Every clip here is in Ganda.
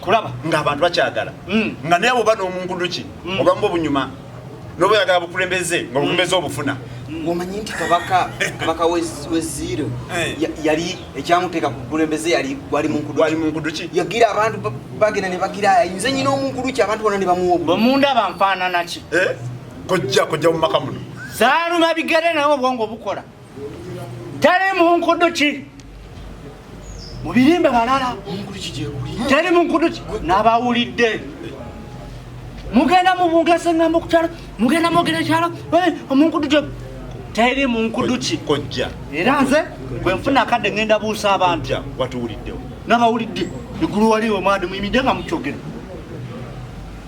kulaba nga abantu bakyagala mm. nga naye oba n'omunguduki mm. oba mu obunyuma noba oyagala bukulembeze nga bukulembeze obufuna mm. omanyi nti kabaka kabaka weziiro eh. yali ekyamuteeka ku bukulembeze yali wali munkuduki yagira abantu bagenda ne bagira ayinza nyina omunkuduki abantu bona ne bamuwobamunda banfaananaki eh? kojja kojja mu maka muno zaaluma bigere naye obwongo bukola tali munkudu ki mubirimbe balala tali munkudu ki nabawulidde mugenda mubungesa engambo kukyalo mugenda mwogera ekyalo eh, omunkudu gyo teri munkudu ki kojja era nze gwe nfuna akadde ngenda buusa abantu watuwuliddewo nabawulidde egulu waliwo mwadi muyimidde nga mukyogera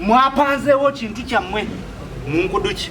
mwapanzeewo kintu kyammwe munkudu ki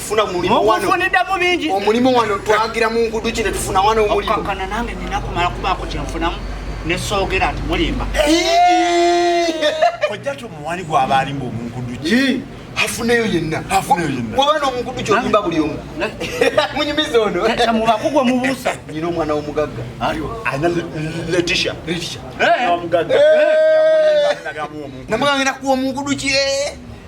funa mulimu wano mukufuniddamu bingi omulimu wano twagira mu ngudu kino tufuna wano omulimu okukakana nange nina kumala kubaako kyenfunamu nesoogera nti mulimba ojja tomuwali gwaba alimba omunkudu ki afuneyo yenna bwaba nomunkudu kyolimba buli omu munyumiza ono mubakugwe mubuusa nyina omwana womugagga letisha namugangenda kuwa omunkudu ki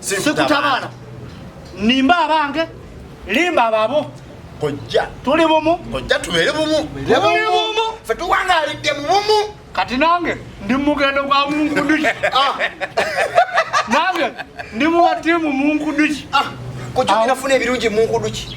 sikutabala nimba abange limba ababo kojja tuli bumu kojja tubeere bumu tuli bumu fe tuwangalidde mu bumu kati nange ndi mumugendo gwa munkuduki ah. nange ndi muwatiimu munkuduki ah. kojja binafuna ebirungi munkuduki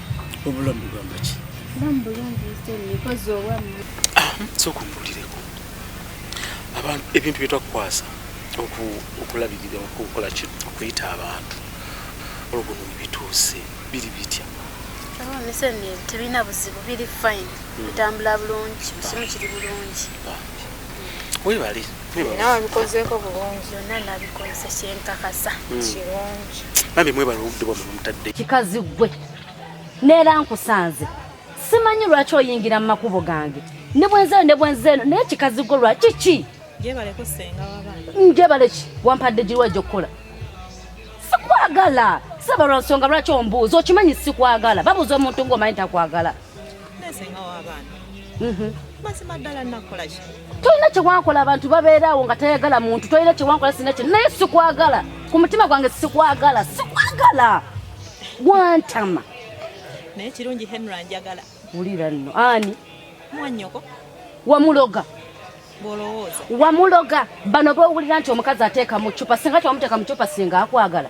obulamu bugamba ki ah, sooka ombulireko abantu ebintu byetwakukwasa okulabirira okukola ki okuyita abantu olwo guno bituuse biri bitya tebirina buzibu biri fine hmm. bitambula bulungi kisimu kiri bulungi webale nawe bikozeko bulungi yonna nabikozesa kyenkakasa hmm. kirungi bambi mwebala obudde bwamwe bamutadde kikazi gwe neera nkusanze simanyi lwaki oyingira mu makubo gange ne bwenzeeno ne bwenzeeno naye kikazi gwe lwaki ki njebale ki wampadde giriwa gyokukola sikwagala saba lwa nsonga lwaki ombuuza okimanyi sikwagala babuuza omuntu ng'omanyi takwagala Mhm. mazima ddala nakola ki tolina kyewankola abantu babeeraawo nga tayagala muntu tolina kyewankola sina ki naye sikwagala ku mutima gwange sikwagala sikwagala gwantama naye kirungi henry anjagala wulira nno ani mwanyoko wamuloga wamuloga bano bowulira nti omukazi ateeka mu cupa singa tewamuteeka mu cupa singa akwagala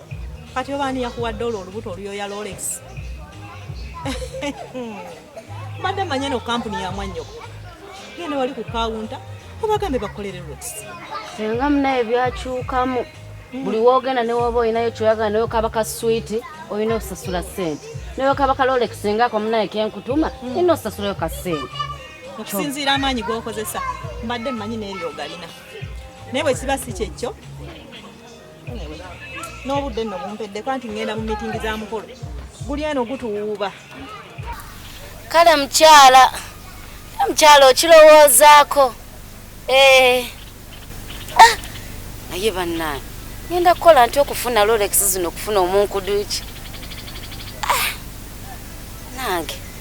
kati oba ani yakuwadde olwo olubuto oluyoya lolex mbadde manya no kampuni ya mwanyoko genda wali ku kawunta obagambe bakolere lolex senga munaye byakyukamu hmm. buli wogenda newooba olinayo kyoyagala nayo kaba ka switi olina osasula sente nayo kaba ka lolex ngaako munaye kenkutuma hmm. ina osasulayo ka sente okusinziira amaanyi gokozesa mbadde mmanyi neryo ogalina naye bwekiba si kyekyo n'obudde nno bumpeddeko anti ŋŋenda mu mitingi za mukolo guli eno gutuwuuba kale mukyala mukyala okirowoozaako eh. ah, naye bannange ŋenda kukola nti okufuna lolex zino okufuna omunkuduki ah, nange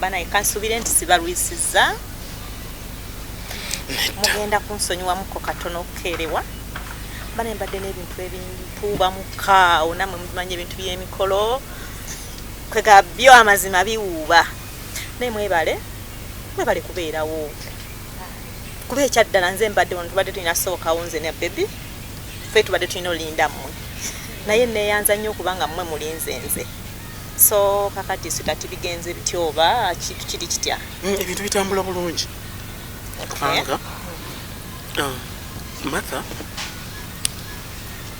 banaye kansubire nti sibalwisiza mugenda kunsonyiwamuko katono okukeerewa bana embadde n'ebintu ebintuuba mukaawo namwe mubimanyi ebintu by'emikolo kwega byo amazima biwuuba naye mwebale mwebale kubeerawo kuba ekyaddala nze mbadde wano tubadde tulina sobokawo nze ne bebi fe tubadde tulina olinda mmwe naye neyanza nnyo okuba nga mmwe mulinze nze so kakati sitati bigenze bitya oba kintu kiri kitya mm, ebintu bitambula bulungi kubanga uh, matha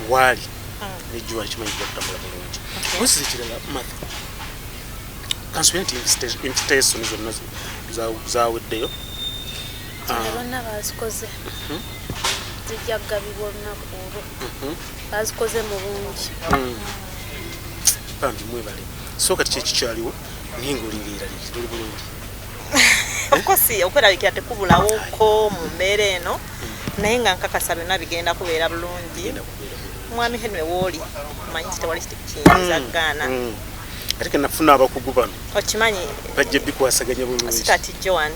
waali mm. nejjuwa kimanyi kutambula bulungi osi ekirala matha kansubire nti invitation zonna zaweddeyo bonna bazikoze mhm. zijja kugabibwa olunaku olwo mhm. bazikoze mu bungi mm. bambi mwebale so kati kyekikyaliwo naye ngaolirira liri luli bulungi okosi okwerabikira tekubulawoko mu mbeera eno mm. naye nga nkakasa byonna bigenda kubeera bulungi mwami henry wooli manyi nti tewali kiti kiyinza mm, gaana mm. ate kenafuna abakugu bano okimanyi bajja bikwasaganya bulungi kati joan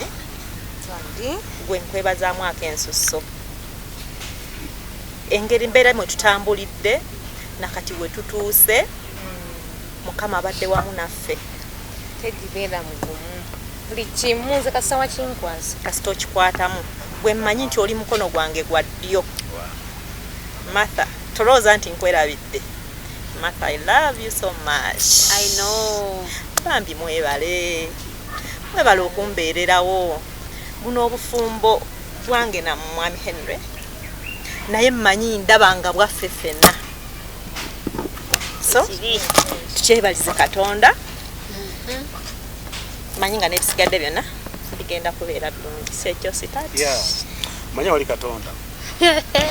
gwe nkwebazamu ako ensusso engeri mbeera mwe tutambulidde nakati we tutuuse mm. mukama abadde wamu naffe tegibeera mugumu buli kimu nze kasawa kinkwasa kasita okikwatamu gwe mmanyi nti oli mukono gwange gwa ddyo Martha tolowooza nti nkwerabidde Martha I love you so much I know bambi mwebale mwebale okumbeererawo buno obufumbo bwange na mwami Henry naye mmanyi ndaba nga bwaffe ffenna so tukyebalize katonda mm-hmm. manyi nga n'ebisigadde byonna bigenda kubeera bulungi sekyositati manya wali katonda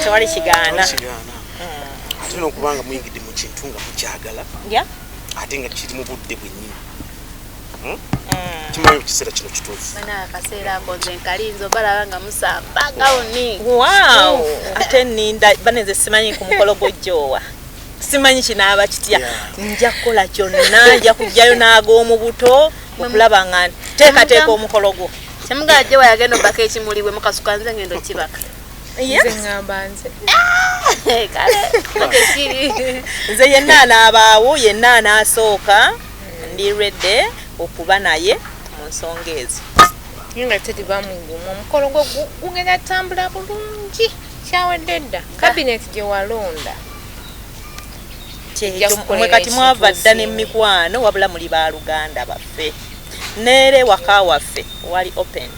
tewali kigaana ate nokubanga muyingidde mu kintu nga mukyagala ate nga kiri mu budde bwennyini hmm? mm. kimanyi ekiseera kino kituufu akaseera akoze nkalinzo balaba nga musamba gawuni waw ate ninda banenze simanyi ku mukolo gwojjoowa simanyi kinaaba kitya nja kukola kyonna nja kujjayo n'ag'omu buto okulaba nga nteekateeka omukolo gwo Temugala jewa yagenda obaka ekimuli bwe mukasuka nze ngendo kibaka. Yes. Nze ngamba nze. Eh, kale. Nze yenna anabaawo yenna anasooka ndi ready okuba naye mu nsonga ezo. Nga tedi bamungu mu mukolo gwo gugenda tambula bulungi kyawedde dda kabineeti gye walonda. Kye kyo mwe kati mwava dda ne mikwano wabula muli ba luganda baffe. nere waka waffe wali open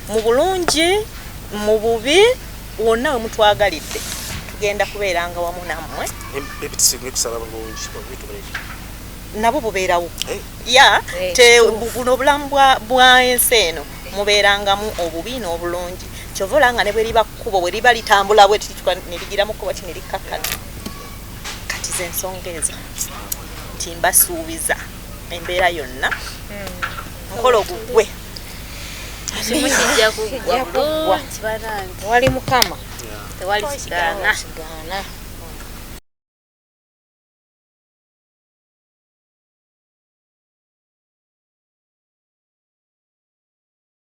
mu bulungi mu bubi wonna we mutwagalidde tugenda kubeeranga wamu nammwe nabo bubeerawo eh. ya eh, te buno obulamu bwa ensi eno mubeerangamu obubi n'obulungi kyova olanga ne bwe liba kkubo bwe liba litambula bwe tirigira mu kkubo ti ne likkakkana kati zensonga ezo nti mbasuubiza embeera yonna mukolo gugwe wali mukama tewali kigaana